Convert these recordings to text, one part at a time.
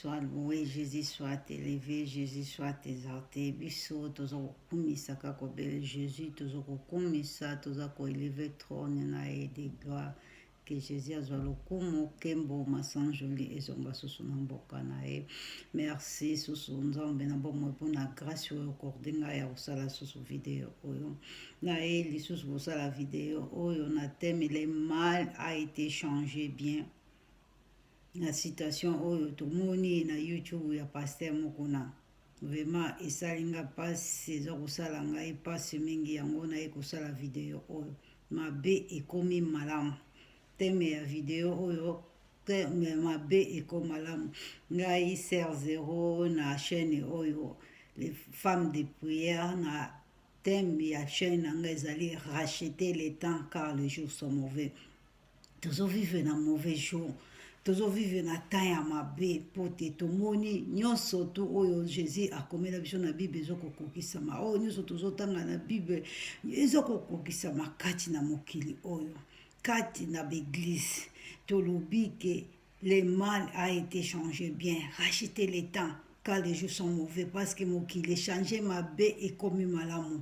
soit loué jésus soit élevé jésus soit exalté biso toza kokumisa kaka obele jésus toza kokumisa toza koeleve trône na ye de gloire ke jésus azwa lokumu nkembo masanjoli ezonga susu na mboka na ye merci susu nzambe na bomoi mpona grâce oyo okorde ngai ya kosala susu video oyo naye lisusu kosala video oyo na teme le mal a été changé bien na situation oyo tomoni na youtube ya paster moko na vraimen esali nga mpasi eza kosala ngai mpasi mingi yango naye kosala video oyo mabe ekomi malamu teme ya video oyo mabe ekomi malamu ngai ser zero na chaîne oyo les femmes de prière na Thème ya chaîne na nga ezali racheter le temps car les jours sont mauvais. Tozo vivre na mauvais jour. Tozo vivre na temps ya mabe mpo te tomoni nyonso tu oyo Jésus akomela biso na Bible ezo kokokisama. Oyo nyonso tozotanga na Bible ezo kokokisama kati na mokili oyo, kati na baeglise. Tolobi ke Le mal a été changé bien, racheter le temps car les jours sont mauvais parce que mokili echange mabe ekomi malamu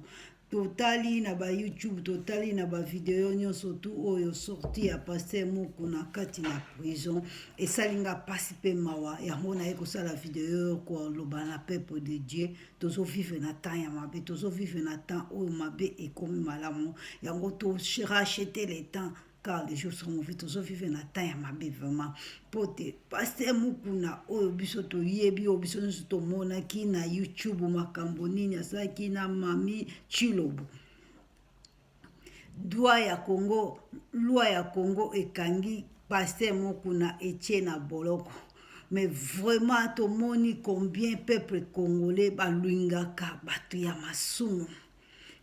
totali na ba youtube totali na ba video nyonso tu oyo sorti ya paster muku na kati na prison esali nga mpasi mpe mawa yango naye kosala video koloba na peuple de dieu tozovivre na temps ya mabe tozovivre na temps oyo mabe ekomi malamu yango torachete le temps car les jours sont mauvais tozo vivre na temps ya mabe vraiment mpo te paster mokuna oyo biso toyebi oyo biso nyonso tomonaki na youtube makambo nini asalaki na mami chilobo dwa ya congo lwa ya congo ekangi paster mokuna etie na boloko mais vraiment tomoni combien peuple congolais balwingaka bato ya masumu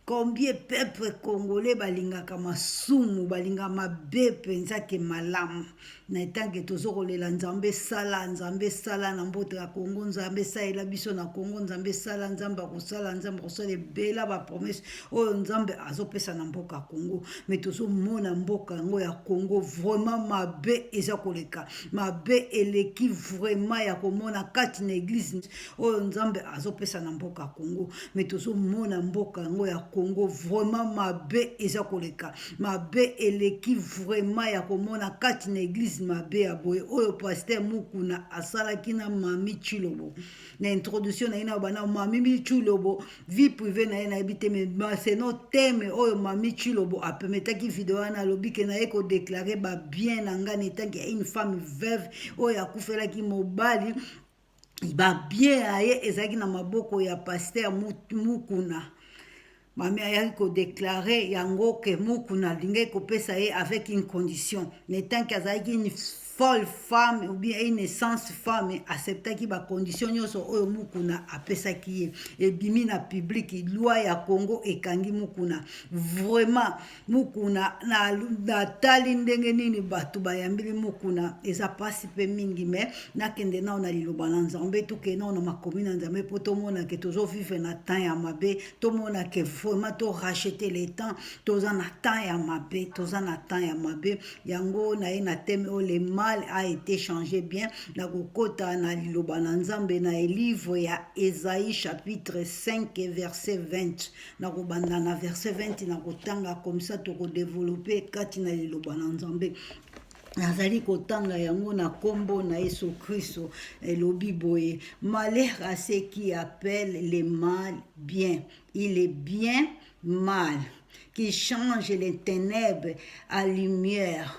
Combien peuple congolais balingaka masumu balinga mabe mpenza ke malamu na etanke tozo kolela nzambe sala nzambe sala na mbote ya kongo nzambe salela biso na kongo nzambe sala nzambe akosala nzambe akosala ebela bapromese oyo nzambe azopesa na mboka ya kongo me tozomona mboka yango ya kongo vraiment mabe eza koleka mabe eleki vraiment ya komona kati na eglise oyo nzambe azopesa na mboka congo me tozomona mboka yango ya congo vraiment mabe eza koleka mabe eleki vraiment ya komona kati na eglize mabe ya boye oyo paster mukuna asalaki na mami chilobo na introduction na ye na bana mami chilobo vie prive na ye nayebi te me maseno teme oyo mami chilobo apemetaki video wana alobi ke na ye kodeklare babien na ngai na etanke ya une femme veuve oyo akufelaki mobali babie ya ye ezalaki na maboko ya paster mukuna mami ayaki kodeklare yango ke mukuna alingaki kopesa ye avec une condition na etanke azalaki une folle femme ou bien une essence femme acceptaki bacondition nyonso oyo mukuna apesaki ye ebimi na publiki loi ya congo ekangi mukuna vraiment mukuna natali na ndenge nini bato bayambili mukuna eza mpasi mpe mingi me nakende nao na liloba na nzambe tokei nao na makomi na nzambe mpo tomona ke tozovivre na temps ya mabe tomona ke vraiment torachete le temps toza na temps ya mabe toza na temps ya mabe yango naye na teme oyo le mal a été changé bien na kokota na liloba na nzambe na elivre ya esai chapitre 5 verset 20 nakobanda na verset 20 nakotanga komisa tokodevelope kati na liloba na nzambe nazali kotanga yango na nkombo na yesu kristo elobi boye malheur à ce qui appelle le mal bien il est bien mal qui change les ténèbres à lumière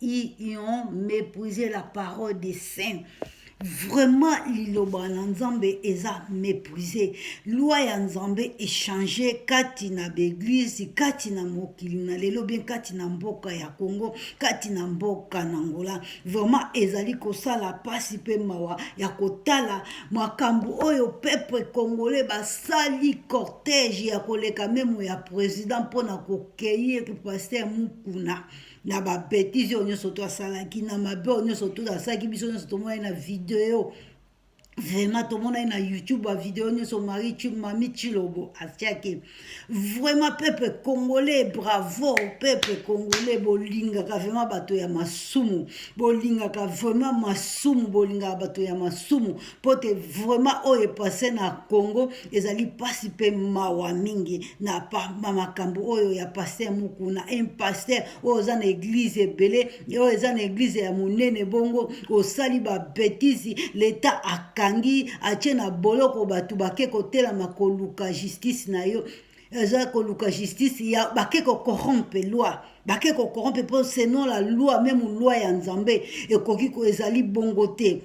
ils ont méprisé la parole des saints vraiment liloba na nzambe eza méprise loi ya nzambe echange kati na baeglise kati na mokili na lelo bien kati na mboka ya congo kati na mboka na ngola vraiment ezali kosala mpasi mpe mawa ya kotala makambo oyo peuple congolais basali cortège ya koleka memo ya président mpo na kokei paster mukuna na babetise oyo nyonso to asalaki na mabe oyo nyonso to asalaki biso nyonso tomonai na video vraiment tomonai na youtube bavideo nyonso mari mami chilobo atiaki vraiment peuple congolais bravo peuple congolais bolingaka vraiment bato ya masumu bolingaka vraiment masumu bolingaka bato ya masumu mpo te vraiment oyo epase na congo ezali mpasi mpe mawa mingi na makambo oyo ya paster mokuna un paster oyo oza na eglize ebele oyo eza na eglize ya monene bongo osali babetise leta akangi atie na boloko bato bake kotelama koluka justice na yo eza koluka justice ya bake kocorrompe loi bake kocorrompe mpo selon la loi meme loi ya nzambe ekoki ezali bongo te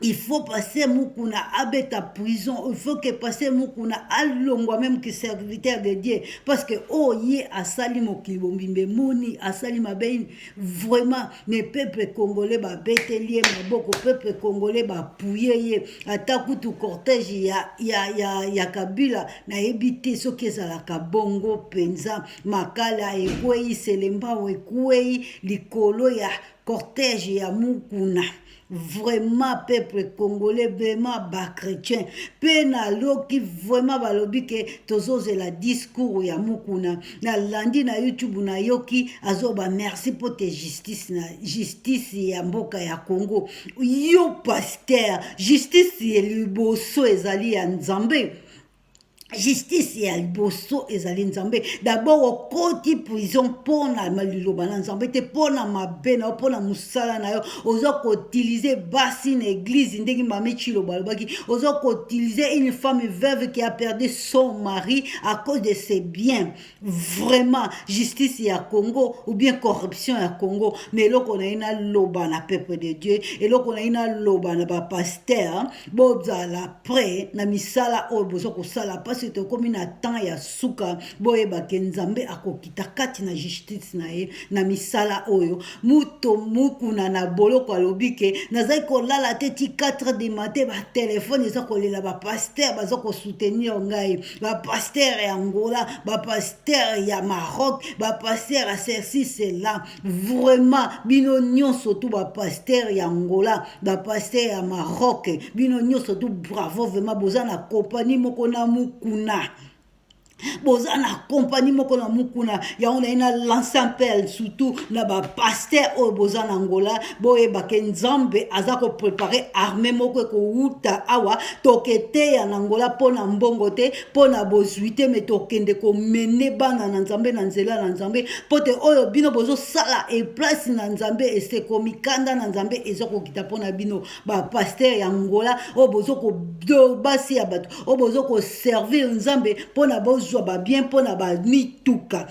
il faut passer mukuna abeta prison il faut que passer mukuna alongwa même que serviteur de dieu parce que oyo oh, ye asali mokili bombimba emoni asali mabe ini vraiment ne peuple congolais babeteli ye maboko peuple congolais bapuye ye ata kutu cortège ya, ya, ya, ya kabila nayebi te soki ezalaka bongo mpenza makala ekwei selembao ekwei likolo ya cortège ya mukuna vraiment peuple congolais vraiment bachrétien mpe naloki vraiment balobi ke tozozela discours ya mokuna nalandi na youtube nayoki azoba merci mpo te justice na justice ya mboka ya congo yo paster justice liboso ezali ya nzambe justice ya liboso ezali nzambe dabord okoti prison mpo na liloba na nzambe te mpo na mabe na yo mpo na mosala na yo oza koutilize basi na eglize ndenge mame chiloba alobaki oza koutilize une femme veuve qui a perdu son mari à cause de ses biens vraiment justice ya congo ou bien corruption ya congo mais eloko na ye naloba na peuple de dieu eloko na ye naloba na bapaster bozala près na misala oyo boza kosala mpasi tokomi na temps ya suka boyebake nzambe akokita kati na justice na ye na misala oyo moto mokuna na boloko alobi ke nazali kolala te ti 4 de mate batelefone eza kolela bapaster baza kosoutenir ngai bapaster ya angola bapaster ya maroc bapaster ya ceci cela vraiment bino nyonso tu bapaster ya angola bapaster ya maroc bino nyonso tu bravo vraiment boza na kompani moko na mokuna boza na kompani moko na mokuna yango naye na lance appel surtout na bapaster oyo boza na angola boyeba ke nzambe aza koprepare arme moko ekowuta awa toketeya na ngola mpo na mbongo te mpo na bozwi te me tokende komene bana na nzambe na nzela na nzambe mpo te oyo bino bozosala eplasi na nzambe eseko mikanda na nzambe eza kokita mpo na bino bapaster ya ngola oyo bozobasi ya bato oyo bozokoservir nzambe mpo na bozwa babien mpo na bamituka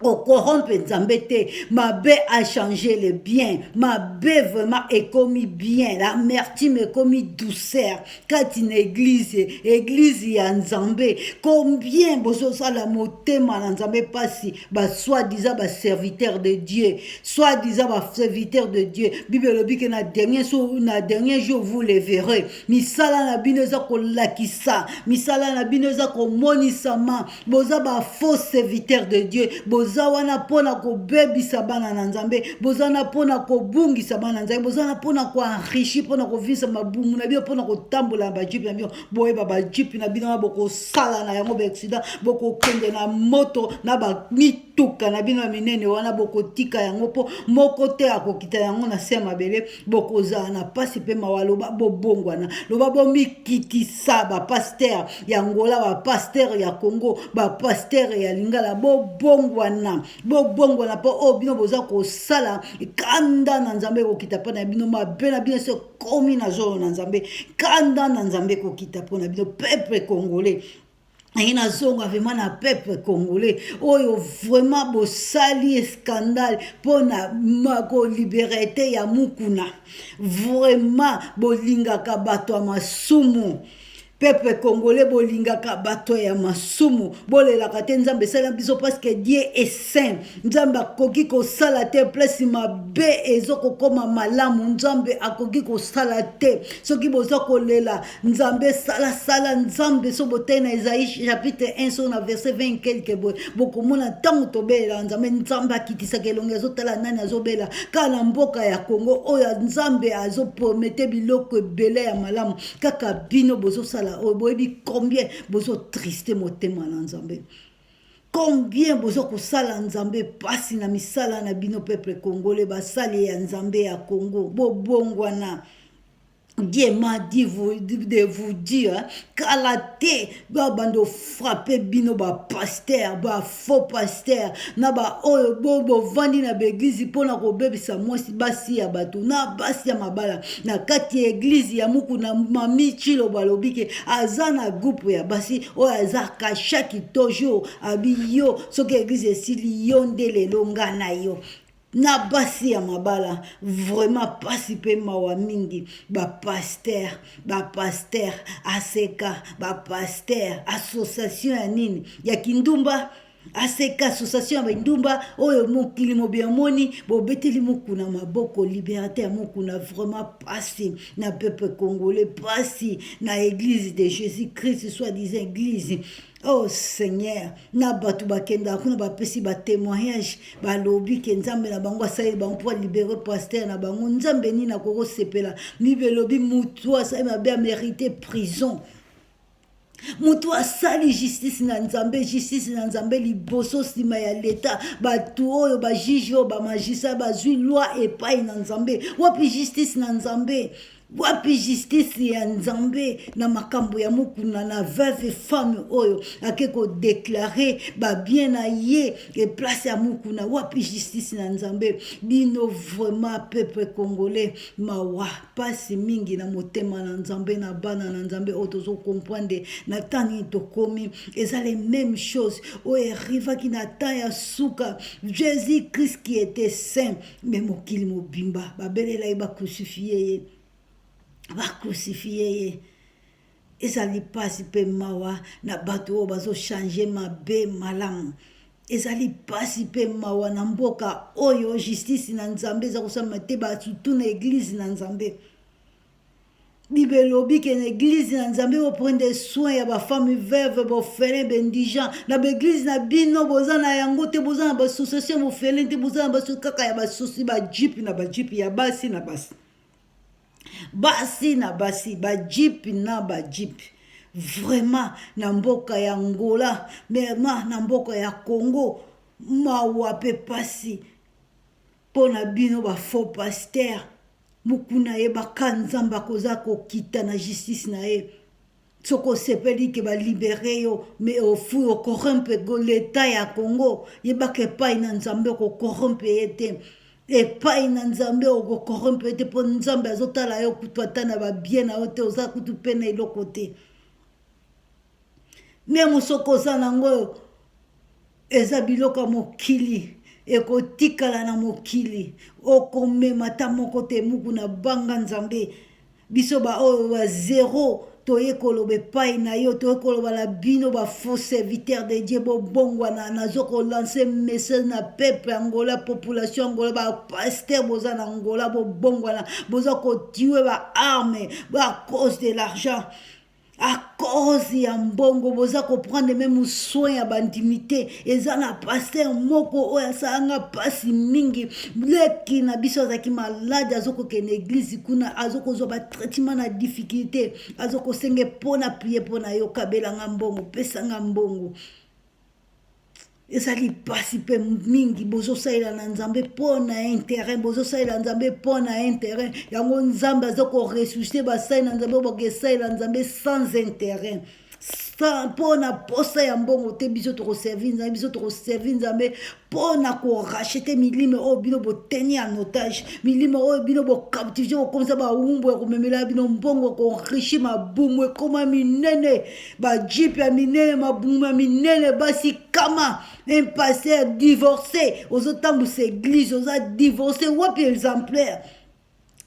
okorompe nzambe te mabe achange le bien mabe vraiment ekomi bien la mertime ekomi douceur kati na eglize eglize ya nzambe combien bozosala motema na nzambe mpasi basoi-disant baserviteur de dieu soi-disant baserviteur de dieu bible elobi ke na dernier, so, na dernier jour vous le verrez misala na bino eza kolakisa misala na bino eza komonisama boza ba faux serviteur de dieu boza wana mpona kobebisa bana na nzambe boza wana mpona kobungisa bana na nzambe boza wana mpona koenrichi mpona kovisa mabumu na bino mpona kotambola na bajipe na bino boyeba bajipe na bino wana bokosala na yango baaccident bokokende na moto na bamituka na bino ya minene wana bokotika yango mpo moko te akokita yango na se ya mabele bokozala na mpasi mpe mawa loba bobongwana loba bomikitisa bapastere ya ngola bapastere ya congo bapastere ya lingala bobongwana bobongwana mpo oyo bino boza kosala kanda na nzambe ekokita mpo na bino mabe na bino so ekomi na zolo na nzambe kanda na nzambe ekokita mpo na bino peuple congolais naye nazonga vraiment na peuple congolais oyo vraiment bosali escandale mpo na koliberete ya mukuna vraiment bolingaka bato ya masumu peuple congolais bolingaka bato ya masumu bolelaka te nzambe esala biso parceke die esaint nzambe akoki kosala te place mabe ezokokoma malamu nzambe akoki kosala te soki boza kolela nzambe salasala nzambe so botei na ezai chapitre 1 so na verset 20 quelque boye bokomona ntango tobelelaka nzambe nzambe akitisaka elongi azotala nani azobela kaka na mboka ya kongo oyo nzambe azopromete biloko ebele ya malamu kaka bino bozosala oyo boyebi combien bozotriste motema na nzambe combien boza kosala nzambe mpasi na misala na bino peuple congolais basali ya nzambe ya congo bobongwana Dieu m'a dit vous, de vous dire kala te babando frappe bino bapaster bafaux paster na baoyo bo bovandi na baeglize mpo na kobebisa mwasi basi ya bato na basi ya mabala na kati ya eglize ya muku na mami chilo balobi ke aza na groupe ya basi oyo aza kashaki toujours abi yo soki eglize esili yo nde lelo nga na yo na basi ya mabala vraiment pasi pe mawa mingi ba pasteur ba pasteur aseka ba pasteur association ya nini ya kindumba aseka association ya bandumba oyo mokili mobi amoni bobeteli mokuna maboko liberté ya mokuna vraiment pasi na peuple congolais pasi na église de jésus christ soit disant église Oh Seigneur, na bato bakendaka kuna bapesi ba témoignage balobi ke Nzambe na bango asaleli bango mpo alibere pasteur na bango. Nzambe nini akoki kosepela? Bible elobi moto asali mabe amerite prison. moto asali justice na nzambe justice na nzambe liboso nsima ya leta bato oyo bajuge oyo bamagistrat bazwi loi epai na nzambe wapi justice na nzambe wapi justice ya nzambe na makambo ya mukuna na veuve femme oyo ake kodeklare babien na ye eplace ya mukuna wapi justice na nzambe bino vraiment peuple congolais mawa mpasi mingi na motema na nzambe na bana na nzambe oyo tozokomprendre na ntango nini tokomi eza le même chose oyo erivaki na temps ya suka jésus christ qui était saint me mokili mobimba babelela ye bakrucifie ye bakrucifie ye ezali mpasi mpe mawa na bato oyo bazochange mabe malamu ezali mpasi mpe mawa na mboka oyo justice na nzambe eza kosalama te basutu na eglize na nzambe Bible elobi ke na eglise na Nzambe bo prendre soin ya ba femme veuve bo felin be indigent na ba eglise na bino boza na yango te boza na ba association bo felin te boza na ba kaka ya ba sosi ba jeep na ba jeep ya basi na basi basi na basi ba jeep na ba jeep vraiment na mboka ya Angola mema na mboka ya Congo mawa pe pasi pona bino ba faux pasteur Mukuna yebaka nzambe akoza kokita na justice na ye soki osepeli ke ba libere yo mais ofui ocorrumpe l'etat ya congo yebaka epai na nzambe okocorrumpe ye te epai na nzambe okocorrumpe ye te mpo nzambe azotala yo kutu ata na babie na yo te oza kutu mpe na eloko te meme soki oza nango oyo eza biloko ya mokili ekotikala na mokili okomema ata moko te muku na banga nzambe biso baoyo ba zero toye koloba epai na yo toye koloba na bino bafaux serviteur de dieu bobongwana nazo kolanse message na peuple ya ngola population ya ngola bapaster boza na ngola bobongwana boza kotue baarme ba cause de l'argent à cause ya mbongo boza koprendre meme soin ya bandimi te eza na paster moko oyo asala nga mpasi mingi leki na biso azalaki malade azokokende eglize kuna azokozwa batraitement na difficulté azokosenge mpo na prie mpo na yo kabela nga mbongo pesa nga mbongo ezali mpasi mpe mingi bozosalela na nzambe mpo na interet bozosalela nzambe mpo na interet yango nzambe aza koressuscite basali na nzambe oyo bakesalela nzambe sans interet mpo na mposa ya mbongo te biso tokoservi nzambe biso tokoservi nzambe mpo na korachete milimo oyo bino boteni ya notage milimo oyo bino bocaptive bokomisa bawumbu ya komemela bino mbongo koenrichi mabumu ekoma minene bajipe ya minene mabumu ya minene basi kama un pasteur divorce ozotambusa eglise oza divorce wapi exemplaire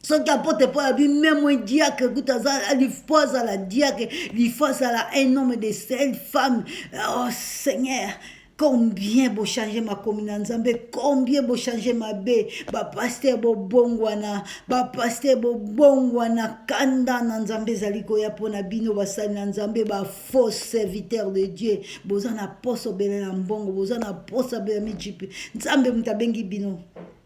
soki apote mpo abi meme un diacre kutu alifo azala diacre lifo azala un homme de sel femme oh seigneur combien bo changer makomi na nzambe combien bo changer mabe bapaster bobongwana bapaster bobongwana kanda na nzambe ezali koya mpo na bino basali na nzambe bafaux serviteur de dieu boza na poso bele na mbongo boza na posa bele mijipi nzambe moto abengi bino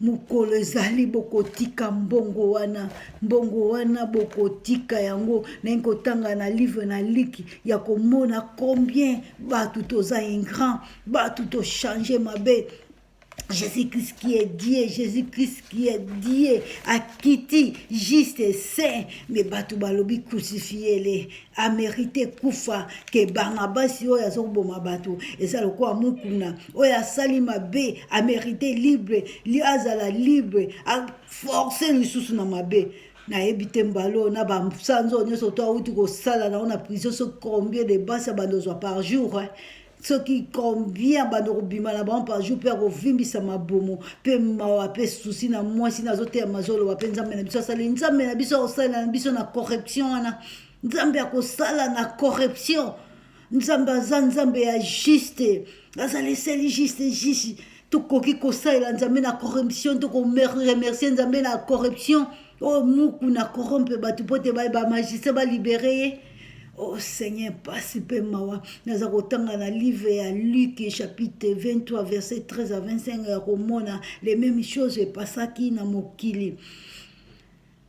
mokolo ezali bokotika mbongo wana mbongo wana bokotika yango naingi kotanga na livre na liki ya komona combien bato toza ingrand bato tochange mabe Jésus-Christ qui est Dieu, Jésus-Christ qui est Dieu, akiti juste et saint, mais bato balobi crucifiele, amerite kufa ke banga basi oyo azoboma bato eza lokola mukuna oyo asali mabe amerite libre li azala libre aforce lisusu na mabe nayebi te mbala oyo na basanza oyo nyonso to awuti kosala nango na prison so combien de basi abanda ozwa par jour eh? soki combien bando kobima na bango par jour mpe akovimbisa mabumu mpe mawa mpe susi na mwasi nazoteya mazoloba mpe nzambe na biso asali nzambe na biso akosalela na biso na corruption wana nzambe akosala na corruption nzambe aza nzambe ya juste azali eseli juste juste tokoki kosalela nzambe na corruption tokoremercie nzambe na corruption oyo oh, mukuna corrompe bato mpo te bamagistrat balibere ye o oh, seigneur mpasi mpe mawa naza kotanga na livre ya luke chapitre 23 verset 13 a 25 ya komona le même chose epasaki na mokili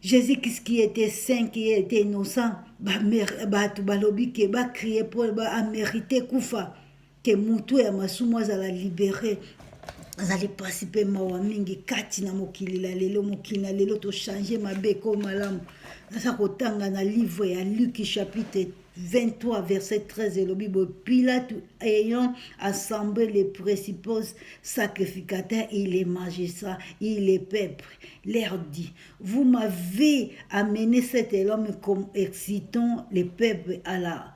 jésus kristu qui était saint qui était innocent bato balobi ke bacrie mpo amerite kufa Ke moto ya masumu azala libere azali mpasi mpe mawa mingi kati na mokili na lelo mokili na lelo tochange mabe ekomi malamu naza kotanga na livre ya luki chapitre 23 verset 13 elobi boye pilate ayant assemble les principaux sacrificateurs et les magistrats et les peuples leur dit vous m'avez amené cet homme comme excitant les peuples à la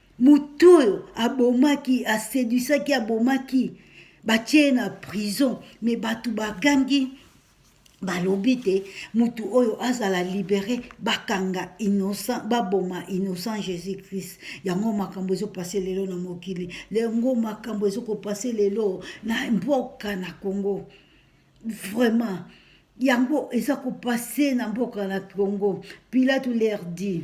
Moto oyo abomaki, aseduisaki, abomaki, batie ye na prison, me bato bagangi balobi te moto oyo azala libere bakanga innocent baboma innocent jésus christ yango makambo ezopase lelo na mokili yango makambo ezokopase lelo na mboka na congo vraiment yango eza kopase na mboka na congo pilate leur dit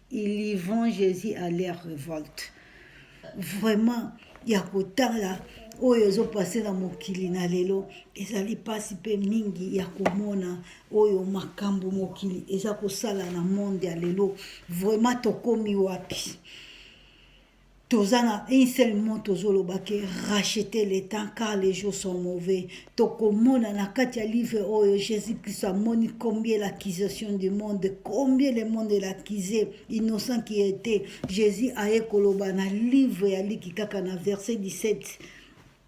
Il y vont Jesus à leur revolte. Vraiment, ya kotala oyo ezopase na mokili na lelo ezali mpasi mpe mingi ya komona oyo makambo mokili eza kosala na monde ya lelo vraiment tokomi wapi toza na une seule mot tozoloba ke racheter le temps car les jours sont mauvais tokomona na kati ya livre oyo jésus christ amoni combien l'accusation du monde combien le monde elaccuse innocent qui était jésus aye koloba na livre ya liki kaka na verset 17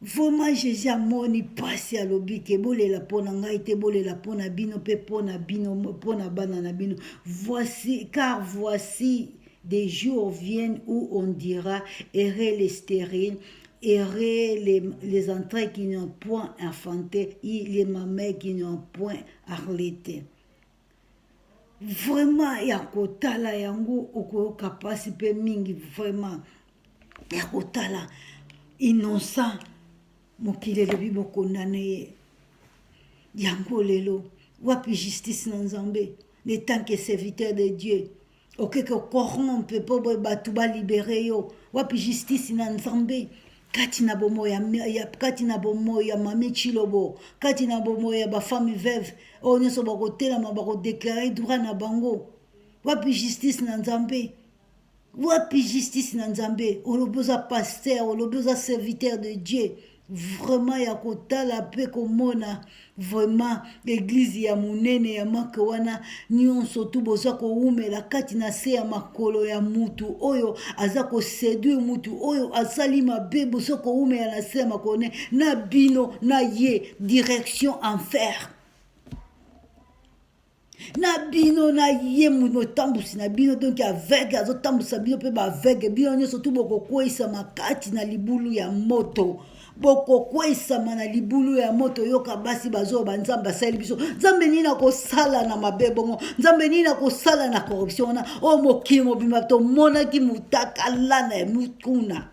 Vraiment Jésus amoni pasi alobi ke bolela pona ngai te bolela pona bino pe pona bino pona bana na bino voici car voici des jours viennent où on dira errer les stériles errer les, les entrailles qui n'ont point enfanté et les mamelles qui n'ont point arlété. vraiment ya kotala yango okoyoka mpasi mpe mingi vraiment ya kotala innocent mokili elobi bokondane ye yango lelo wapi justice na nzambe ne tant que serviteur de dieu okeke ocorrompe mpo boye bato balibere yo wapi justice na nzambe kati na bomoi ya kati na bomoi ya mami chilobo kati na bomoi ya bafami veuve oyo nyonso bakotelama bakodeklare droit na bango wapi justice na nzambe wapi justice na nzambe olobi oza paster olobi oza serviteur de dieu vraiment ya kotala mpe komona vraiment eglize ya monene ya make wana nyonso tu boza kowumela kati na se ya makolo ya mutu oyo aza koseduire mutu oyo asali mabe boza kowumela na se ya makolo ne na bino na ye direction enfer na bino na ye motambusi na bino donk aveugle azotambwisa bino mpe baaveugle bino nyonso tu bokokweisama kati na libulu ya moto bokokweisama na libulu ya moto yoka basi bazoyo banzambe asali biso nzambe nini akosala na mabe bongo nzambe nini akosala na corruption wana oyo oh, mokili mobimba tomonaki mutakalana ya mutuna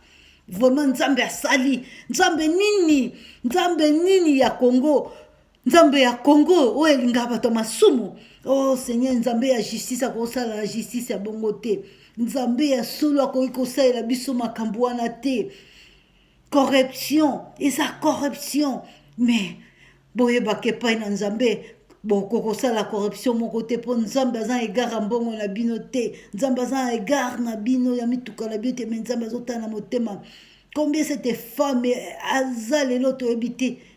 vraiment nzambe asali nzambe nini nzambe nini ya congo nzambe ya congo oyo elingaka bato ya masumu o oh, seigneur nzambe ya justice akosalala justice ya bongo te nzambe ya solo akoki kosalela biso makambo wana te corruption eza corruption mais boyebaka epai na nzambe bokokosala corruption moko te mpo nzambe aza na egare ya mbongo na bino te nzambe aza na egare na bino ya mituka na bino te me nzambe azotala na motema combien cette femme aza lelo toyebi te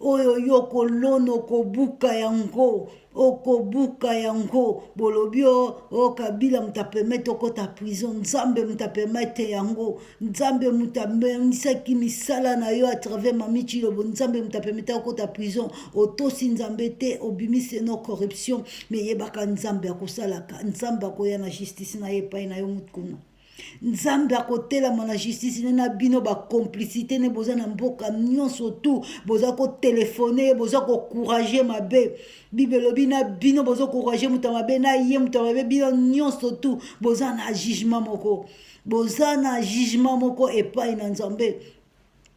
oyo yo okolona okobuka yango okobuka yango bolobi o o kabila moto apemete okota prison nzambe moto apemete yango nzambe moto amemisaki misala na yo atravers mami cilobo nzambe moto apemete okota prison otosi nzambe te obimisi no corruption meyebaka nzambe akosalaka nzambe akoya na justice na ye epai na yo moto kuna nzambe akotelama na justice ne na bino bacomplicité ne boza na mboka nyonso tu boza kotelefone ye boza kocourage mabe bible elobi na bino boza kocourage moto ya mabe na ye moto ya mabe bino nyonso tu boza na jugement moko boza na jugement moko epai na nzambe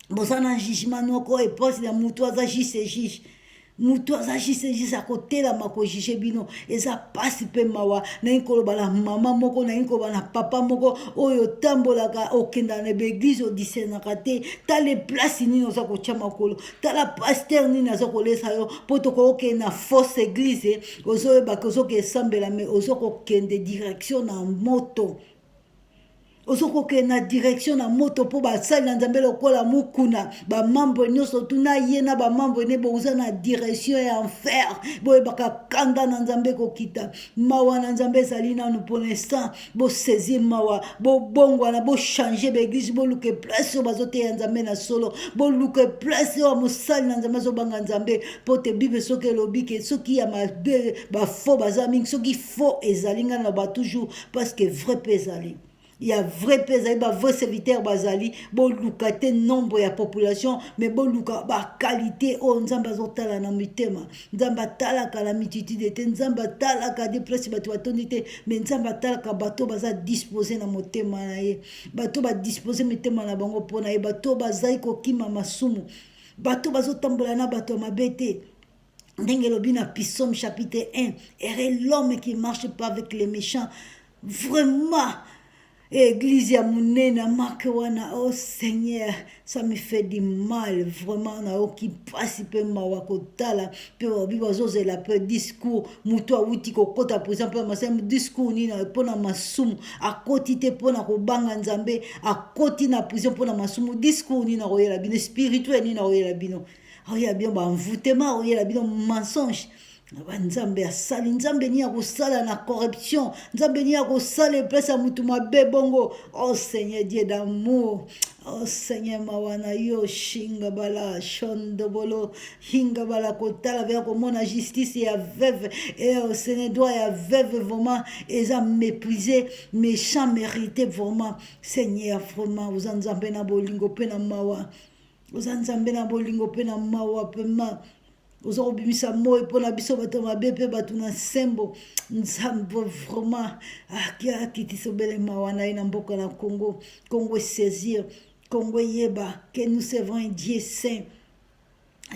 boza na jugement noko eposi na mutu aza juste juge moto aza jise jise akotelama kojuge bino eza mpasi mpe mawa nalingi koloba na mama moko nalingi koloba na papa moko oyo otambolaka okendaka na baeglize odisenaka te tala eplasi nini oza kotya makolo tala paster nini aza kolesa yo mpo tokokende na fausse eglize ozoyebaka ozoka esambela me ozokokende direction na moto ozo kokende na direction na moto mpo basali na nzambe lokola mokuna bamambre nyonso tuna ye na bamambre ne boza na direction ya enfer boyebaka kanda na nzambe kokita mawa na nzambe ezali nanu mpo na instant bosaisir mawa bobongwana bochange baeglise boluka eplace oyo bazoteya nzambe na solo boluka eplace oyo mosali na nzambe azobanga nzambe mpo te bible soki elobi ke soki ya mabe bafo baza mingi soki fo ezali ngai na ba toujours parce que vrai mpe ezali ya vrai mpe ezali bavrai serviteur bazali boluka te nombre ya population mais boluka baqualité oyo nzambe azotala na mitema nzambe atalaka na mititide te nzambe atalaka de place bato batondi te mais nzambe atalaka bato baza dispose na motema na ye bato badispose mitema na bango mpo na ye bato bazali kokima masumu bato bazotambola na bato ya mabe te ndenge elobi na pisome chapitre 1 ere l'homme qui marche pas avec les méchants vraiment eglise ya monene amake wana o oh seigneur ça me fait du mal vraiment nayoki mpasi mpe mawa kotala mpe babi bazozela mpe discours moto awuti kokɔta prison mpe masai discours nini mpo na masumu akoti te mpo na kobanga nzambe akoti na prison mpo na masumu discours nini akoyela bino spirituel nini akoyela bino aoyela bino banvoutema aoyela bino mensonge naba nzambe asali nzambe nini akosala na corruption nzambe nini akosala eplasi ya motu mabe bongo o oh, seigneur dieu d'amour o oh, seigneur mawa na yo shinga bala shondobolo hinga bala kotala veya komona justice ya veuve e eh, o oh, seigneur droit ya veuve vraiment eza méprise méchant mérité vraiment seigneur vraiment oza nzambe na bolingo mpe na mawa oza nzambe na bolingo mpe na mawa mpema oza kobimisa moi mpo na biso bato mabe mpe bato na nsembo nzambe vraiment akitisa obele mawa na ye na mboka na congo congo esaisir congo eyeba ke nous servons un dieu saint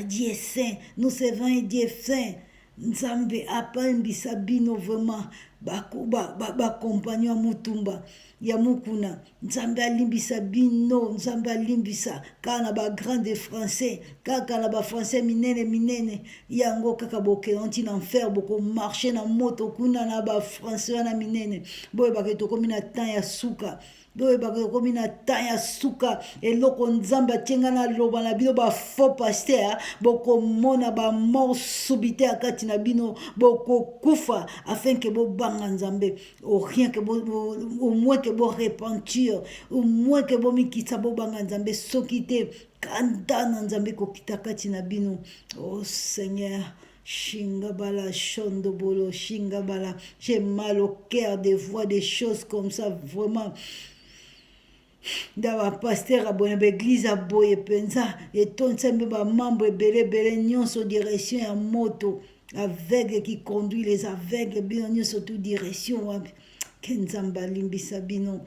dieu saint nous servons un dieu saint Nzambe apambisa bino vraiment bakompagnon ya motumba ya mokuna nzambe alimbisa bino nzambe alimbisa kaka na bagrande français kaka na bafrançais minene minene yango kaka bokenda ntina enfer bokomarche na moto kuna na bafrançais wana minene boyebaka tokomi na temps ya suka boyebaka ekomi na temps ya suka eloko nzambe atie ngai naloba na bino bafaux paster bokomona bamort subite ya kati na bino bokokufa afin ke bobanga nzambe orien ke omoi ke borepentir omoi ke bomikitisa bobanga nzambe soki te kanda na nzambe kokita kati na bino o oh, seigneur Shingabala, Shondobolo, Shingabala. J'ai mal au cœur de voir des choses comme ça, vraiment. nda bapaster aboye na baeglize aboye mpenza etondisa mpe bamambo ebele ebele nyonso direction ya moto aveugle qui conduit les aveugles bino nyonso tu direction wapi ke nzambe alimbisa bino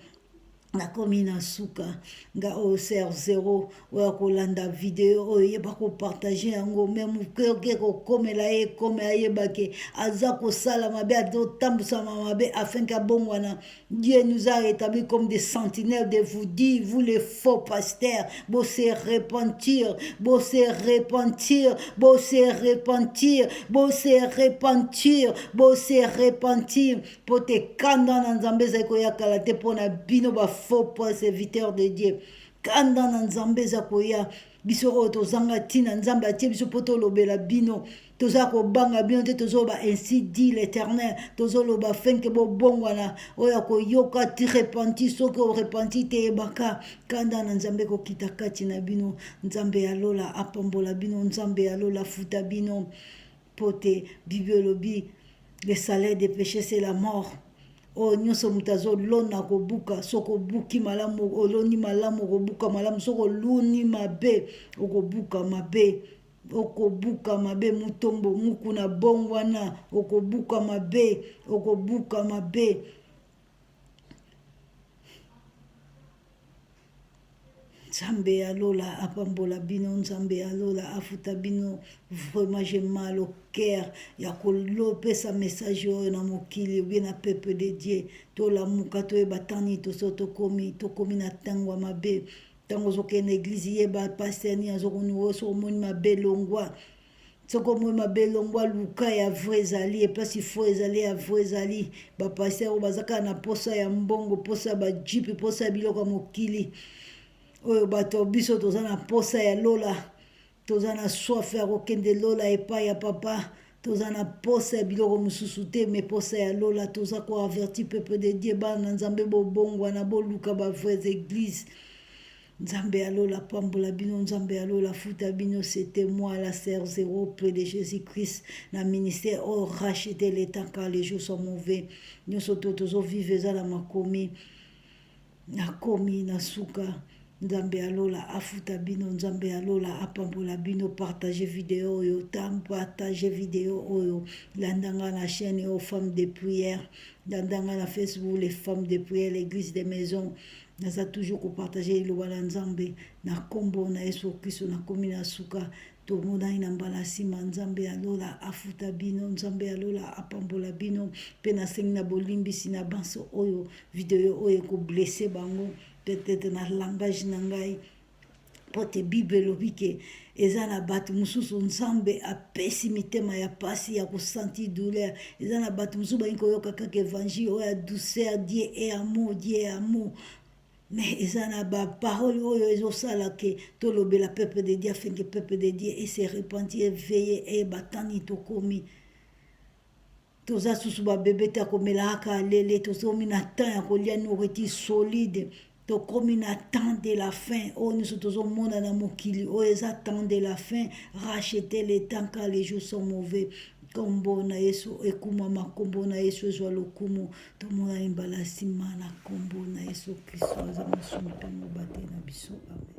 nakomi na suka nga oyo ser zero oyo akolanda video oyo yeba kopartage yango me mokeoke kokomela ye ekome ayeba ke aza kosala mabe azotambusama mabe afin ke abongwana dieu nous a rétabli comme des sentinelles de vous dire vous les faux pasteurs bo se repentir bo se repentir bo se repentir bo se repentir bo se repentir mpo te kanda na nzambe ezali koya kala te mpo na bino bafaux perseviteur de dieu kanda na nzambe eza koya biso oyo tozanga ntina nzambe atie biso mpo tolobela bino toza kobanga bino te tozoloba ainsi dit l'éternel tozoloba fenke bobongwana oyo akoyoka ti repenti soki orepenti te yebaka kanda na nzambe kokita kati na bino nzambe ya lola apambola bino nzambe ya lola afuta bino mpo te bibi olobi le salaire de péché c'est la mort oyo oh, nyonso moto azolona kobuka soki obuki malamu oloni malamu okobuka malamu soki oluni mabe okobuka mabe okobuka mabe motombo mukuna bongwana okobuka mabe okobuka mabe nzambe ya lola apambola bino nzambe ya lola afuta bino vraiment je mal au cœur ya kolopesa message oyo na mokili obie na peuple de dieu tolamuka toyeba tani toso tokomi tokomi na ntango ya mabe ntango ozokende na eglize yeba paster nini azokonuoso omoni mabe longwa soko moi mabe longwa luka ya vrai ezali eplasi fo ezali ya vrai ezali bapasi yango baza kaka na mposa ya mbongo mposa ya bajipe mposa ya biloko ya mokili oyo bato ya biso toza na mposa ya lola toza na soif ya kokende lola epai ya papa toza na mposa ya biloko mosusu te me mposa ya lola toza koaverti peuple de dieu bana na nzambe bobongwana boluka bavrais église Nzambe ya lola apambola bino, Nzambe ya lola afuta bino. C'était moi la sœur zéro près de Jésus-Christ na ministère oyo oh, racheter le temps car les jours sont mauvais. Nyonso to tozo vivre eza na makomi, nakomi na suka. Nzambe ya lola afuta bino, Nzambe ya lola apambola bino. Partage video oyo, tam partage video oyo, landanga na chaîne oyo Femme de prière, landanga na Facebook les Femmes de prière, l'Église des maisons naza toujours kopartage liloba na nzambe na nkombo na yesu kristo nakomi na suka tomonani na mbala nsima nzambe ya lola afuta bino nzambe ya lola apambola bino mpe nasengi na bolimbisi na banso oyo video oyo ekoblese bango peut-être na langage na ngai mpo te bible elobi ke eza na bato mosusu nzambe apesi mitema ya mpasi ya kosentir douleur eza na bato mosusu balingi koyoka kaka evangile oyo ya douceur die e amour die e amour me eza na baparole oyo ezosala ke tolobela peuple de dieu afin ke peuple de dieu ese repentir eveye eye batani tokomi toza susu babebe ta komelaaka alele tozomi na temps ya kolia noriti solide tokomi na temps de la fin oyo nyonso tozomona na mokili oyo eza temps de la fin rachete le temps car les jours sont mauvais nkombo na yesu ekumama nkombo na yesu ezwa lokumu tomonani mbala nsima na nkombo na yesu kristo aza mosumu mpe mobateli na biso amen